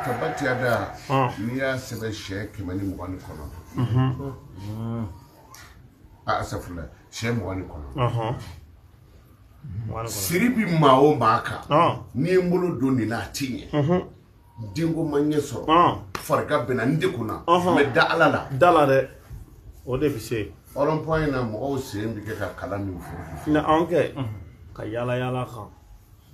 Tabati yada n'i y'a sɛbɛn sɛ kɛmɛ ni mugan ni kɔnɔ a asafurula sɛ mugan ni kɔnɔ siri bi maa o maa kan ne ye n bolo don nin na a ti ɲɛ denko ma ɲɛ sɔrɔ farigan bɛ n na n degunna mɛ da ala la da a la dɛ o de bɛ se ɔrɔnpɔn in na mɔgɔw sen bɛ kɛ ka kalan min fɔ na an kɛ ka yaala yaala kan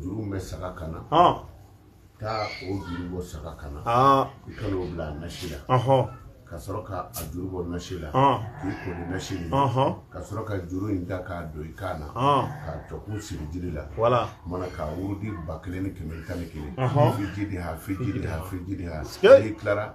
juru min bɛ saga kan na taa o juru bɔ saga kan na i ka n'o bila a nasi la ka sɔrɔ ka a juru bɔ nasi la k'i ko ni nasi nin ka sɔrɔ ka juru in ta k'a don i kan na k'a tɔ kun siri jiri la mana k'a wurudi ba kelen ni kɛmɛ tan ni kelen fijidi ha fijidi ha fijidi ha n'i tilara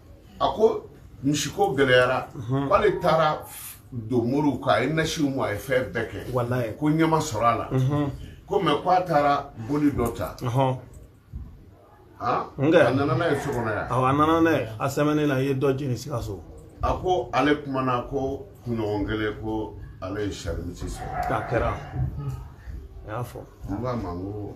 a ko misiko gɛlɛyara k'ale taara don moriw kan a ye nasiw mu a ye fɛn bɛɛ kɛ walayi ko ɲɛ ma sɔrɔ a la ko mɛ ko a taara boli dɔ ta ɔhɔn han? N kɛ. a nana n'a ye so kɔnɔ yan awɔ a nana n'a ye a sɛmɛnen na i ye dɔ jeni sikaso a ko ale kumana ko kunɲɔgɔn kelen ko ale ye sarimisi sɔrɔ k'a kɛra a y'a fɔ n k'a ma n ko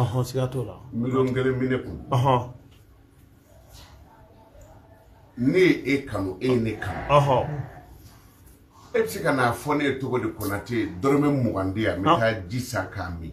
Ɔhɔn siga t'o la miliyɔn kelen bɛ ne kun ɔhɔn ne ye e kanu e ye ne kanu ɔhɔn e bɛ se ka n'a fɔ ne ye cogo di Konate dɔrɔmɛ mugan di yan n bɛ taa ji san k'a min.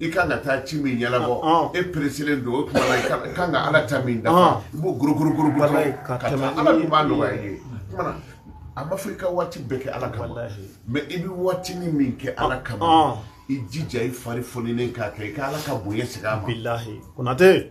i kan ka taa ci min ɲɛnabɔ e peresilen don o tuma i kan ka ala ta min da i b'o gorogorogoro ka tɛmɛ ala min b'a nɔgɔya i ye a ma fɔ i ka waati bɛɛ kɛ ala kama mɛ i bɛ waatinin min kɛ ala kama i jija i fari foninen k'a kɛ i ka ala ka bonya segin a ma konatɛ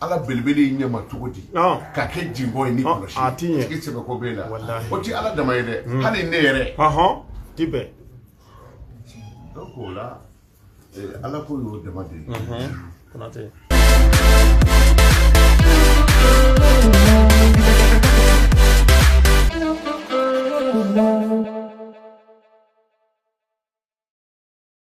ala belebele in ɲɛma cogo di ka kɛ jinbɔ ye ni kɔlɔsi a ti ɲɛ tigi sɛbɛ ko b'e la o ti ala dama ye dɛ hmm. hali ne yɛrɛ ti bɛn donc o la eh, ala ko y'o dama de ye konatɛ